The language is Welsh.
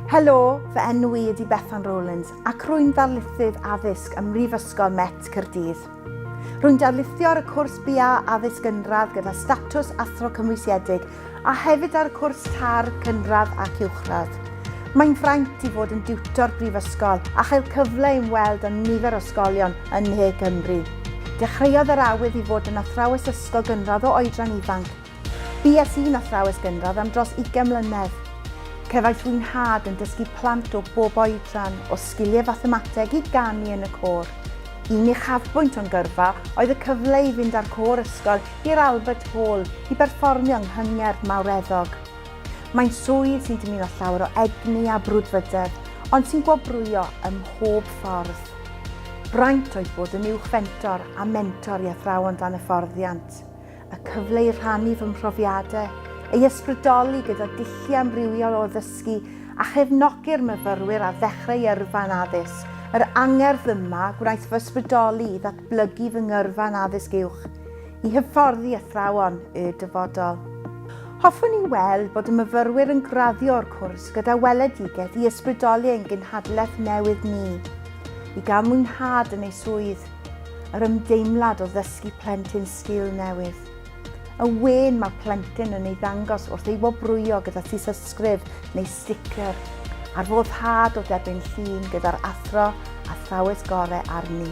Helo, fy enw i ydi Bethan Rowlands ac rwy'n ddarlithydd addysg ym Mhrifysgol Met Caerdydd. Rwy'n darlithio ar y cwrs BA Addysg Gynradd gyda statws athro cymwysiedig a hefyd ar y cwrs TAR Cynradd ac Uwchradd. Mae'n fraint i fod yn diwtor brifysgol a chael cyfle i weld yn nifer o ysgolion yn ne Cymru. Dechreuodd yr awydd i fod yn athrawes ysgol gynradd o oedran ifanc, Bues i'n athrawes gynradd am dros ugain mlynedd. Cefais fy nhad yn dysgu plant o bob oedran, o sgiliau fathemateg i ganu yn y côr. Un uchafbwynt o'n gyrfa oedd y cyfle i fynd â'r côr ysgol i'r Albert Hall i berfformio yng nghyngerdd mawreddog. Mae'n swydd sy'n dymuno llawer o egni a brwdfrydedd, ond sy'n gwobrwyo ym mhob ffordd. Braint oedd bod yn uwch fentor a mentor i athrawon dan hyfforddiant. y cyfle i rhannu fy mhrofiadau, ei ysbrydoli gyda dulliau amrywiol o ddysgu a chefnogi'r myfyrwyr ar ddechrau yrfa'n addysg. Yr angerdd yma gwnaeth fy ysbrydoli i ddatblygu fy ngyrfa yn addysg uwch i hyfforddi athrawon y dyfodol. Hoffwn i weld bod y myfyrwyr yn graddio o'r cwrs gyda weledigaeth i ysbrydoli ein genhadlaeth newydd ni i gael mwynhad yn eu swydd, yr ymdeimlad o ddysgu plentyn sgil newydd. Y wên mae plentyn yn ei ddangos wrth ei wobrwyo gyda thysysgrif neu sticker ar foddhad o debyn llun gyda'r athro athrawes gore arni.